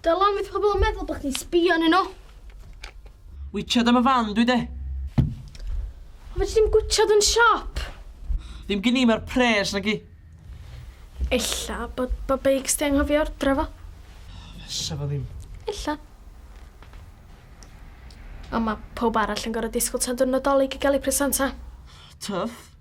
Dylan, beth pobl yn meddwl bod chdi'n sbio yn nhw? Witchad am y fan dwi de. O fe ti'n gwitchad yn siop? Ddim gen i mae'r pres nag i. Ella bod bod beics di anghofio ordra fo. Fysa fo ddim. Ella. Ond mae pob arall yn gorau disgwyl tan dwrnod dolyg i gael ei presenta. Tuff.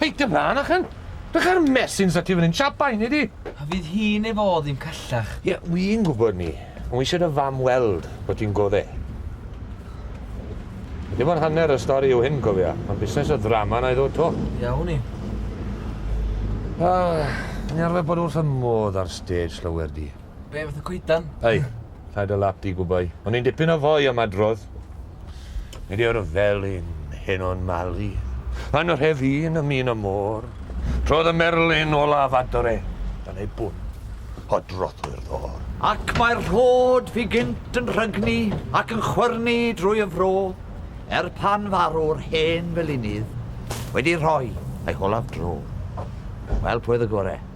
Hei, dim rhan achan! Dych ar mesyn sa ti fan hyn, siap bai ni di! A fydd hi neu fo ddim callach. Ie, wi'n gwybod ni, ond wi eisiau dy fam weld bod ti'n godde. Dim ond hanner y stori yw hyn, cofia. Mae'n busnes o ddrama na i ddod to. Iawn i. Ah, ni arfer bod wrth y modd ar stage, llawer di. Be, fath o coedan? Ei. Rhaid o lap di gwbau. O'n i'n dipyn o foi am adrodd. Nid yw'r felin heno'n malu. Anrhef un ym un y môr. Trodd y merlyn olaf adre. Dan ei bwn, o drothwy'r ddôr. Ac mae'r rhod fu gynt yn rhygnu ac yn chwyrnu drwy y fro, er pan farw'r hen felinydd wedi rhoi ei holaf dro. Wel, pwy oedd y gore?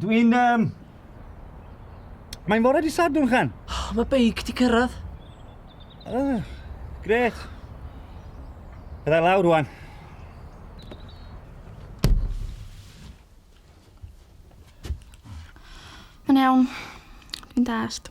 Dwi'n... Um... Mae'n fore di sadwn, Chan. Oh, mae beic di cyrraedd. Oh, gret. Byddai lawr rwan. Mae'n iawn. Dwi'n dast.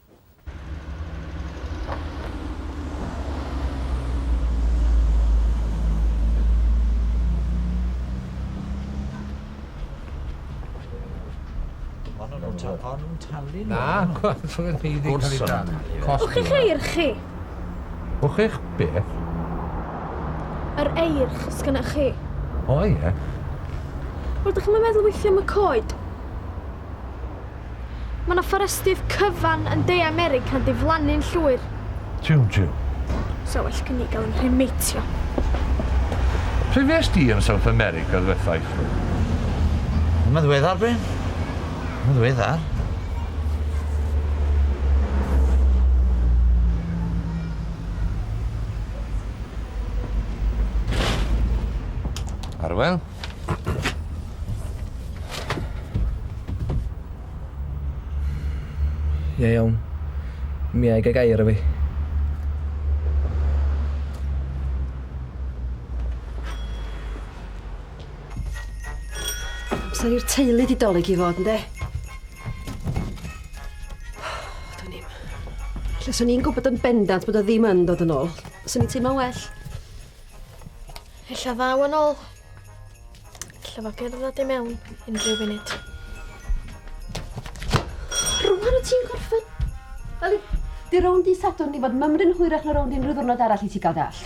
talu nhw. Na, gorfod ni ddim cael ei talu. O'ch chi'ch eir chi? O'ch chi'ch beth? Yr eir chos gynna'ch chi. O ie. Wel, dych chi'n meddwl weithio am y coed? Mae yna fforestydd cyfan yn De America'n diflannu'n llwyr. Tiw, tiw. Sa well gen i gael fy nghremheitio. Lle fues di yn South America ddwetha i chwi? Yn ddiweddar, Bryn. Yn ddiweddar. Arwel? Ie iawn. Mi a'i gael gair o fi. Amser i'r teulu di dolyg i fod, ynddo? Dwi'n im. Lle swn i'n gwybod yn bendant bod o ddim yn dod yn ôl. Swn i'n teimlo'n well. Ella ddaw yn ôl. Ella fo gerdded i mewn yn rhyw funud. Rwan o ti'n gorffen? Wel, di rown di sadwrn i fod mymryn hwyrach na rown di unrhyw ddwrnod arall i ti gael dall.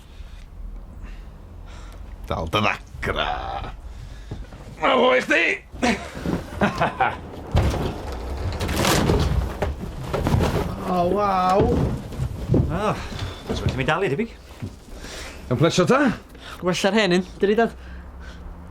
Dal dy ddagra. Mae fo i chdi! O, oh, waw! Oh, Os wedi mi dalu, debyg. Yn plesio ta? Wella'r hen un, dyri dad.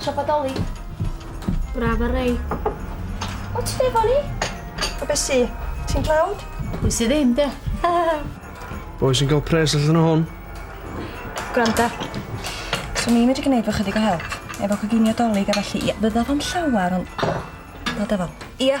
Siop addoli. Braf ar rei. O, ti efo ni? O beth si? Ti'n dlawd? Pwy sydd ddim, de? Boi sy'n cael pres allan o hon. Gwranda. So ni'n medru gwneud fo chydig o help. Efo coginio dolyg a felly, ia, fydda fo'n llawer, ond... Dod efo. Ia.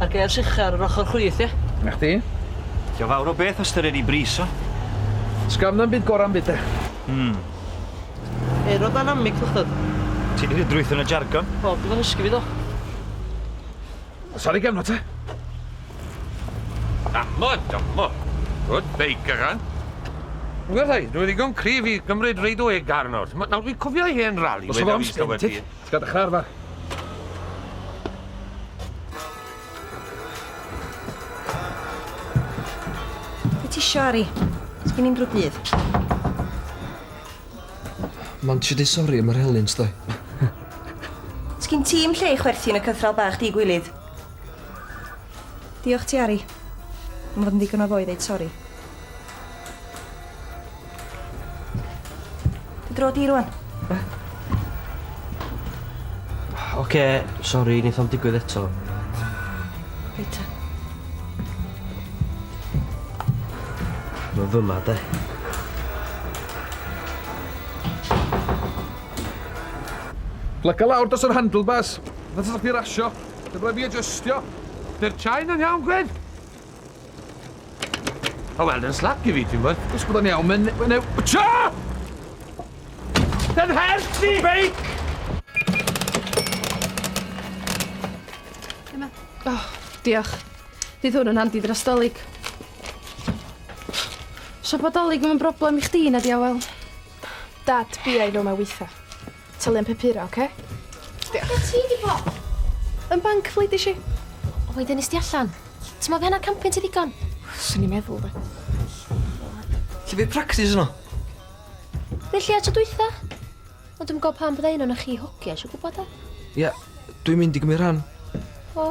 A'r gêrs ucha ar yr ochr chwith, ie? Na chdi? Dio fawr o beth ystyried i bris o. Sgam na'm byd gora'm byd de. Hmm. Aerodynamic fychdod. Ti di drwytho yn y jargon. Wel, bydd o'n ysgu fi do. Sori gefno te. Damo, damo. Good bake agan. Wel, dwi ddigon cryf i gymryd reid o eg arno. Nawr, dwi'n cofio hen rali. Os oedd o'n sgyntig. Ti'n cael dy char fach? Be ti isio, Ari? Ti gen i'n drwy dydd. Mae'n ti di sori am yr helynt, doi. Ti gen tîm lle i chwerthin y cythral bach di gwilydd. Diolch ti, Ari. Mae'n fod yn ddigon o ddoe ddeud sori. Dy dro di rwan. Be? Oce, sori, neith o'm digwydd eto. Reit ta. Mae'n fyma, de. Plyga lawr dos yr handlebars. Nath ysach chdi rasio. Dyma fi adjustio. Dy'r chai'n yn iawn, Gwyn? O, wel, yn slap i fi, ti'n bod? Os bod o'n iawn, mae'n... Mae'n... Tio! Yn help ti! Beic! Emma. Oh, diolch. Dydd hwn yn handi dros dolyg. So bod dolyg yn broblem i chdi, na di, Awel? Dad, bi ai nhw mae weitha. Talu am papura, oce? Diolch. Be' ti 'di bo'? Yn banc, fleidis i. O wedyn nes di allan. Ti me'wl by' hannar campyn ti ddigon? Swn i'n meddwl 'de. Lle by' practis yno? Fe lle a tro dwytha. Ond dwi'm yn gwbo pam bydda un ona chi hogia isio gwbo 'de? Ia, dwi'n mynd i gymyd rhan. O.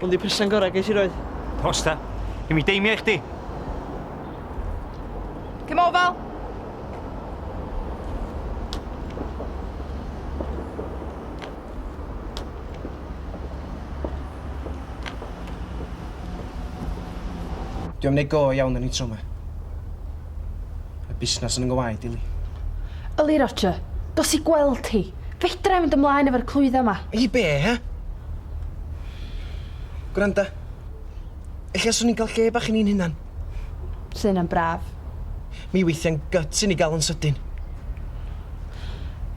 Hwn di presant gorau ges i roed. Os ta. Gen mi deimio i chdi. Cym o fel. Dwi am neud go iawn yn intro ma. Mae busnas yn yng ngwaed i Li. Yli Roger, dos i gweld hi. Fedrai mynd ymlaen efo'r clwydda ma. I be, he? Gwranda. Ella swn i'n cael lle bach i ni'n hunan. Sa hynna'n braf. Mi weithiau'n gyt i ni gael yn sydyn.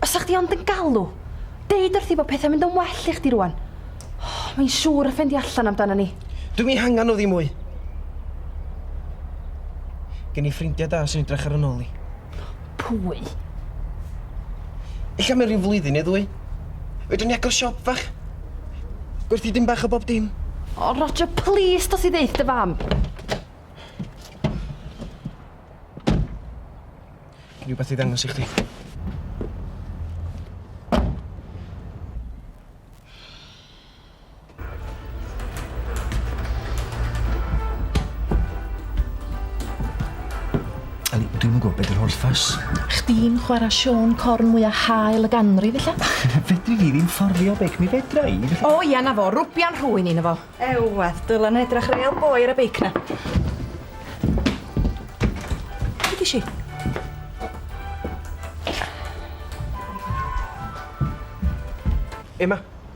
Os sa chdi ond yn galw. Deud wrthi bod pethau'n mynd yn well i chdi rwan. Oh, mae'n siŵr y ffendi allan amdana ni. Dwi'm i hangan o ddim mwy. Gen i ffrindiau da sy'n edrych ar yn ôl i. Pwy? Ella mewn rhyw flwyddyn neu ddwy. Fedrwn ni agor siop fach. Gwerthu dim bach o bob dim. O, Roger, plîs, dos i ddeud dy fam. Rhywbeth i ddangos i chdi. Eli, dwi'm yn gwybod beth yw'r holl ffas. Chdi'n chwarae Siôn Corn mwya hael y ganrif, illa? Fedri fi ddim fforddio beic, mi fedra i. O ia, na fo, rwbian rhwy'n un o fo. Ewedd, dylen nhw edrach real boi ar y beic na. Beth i si? Emma,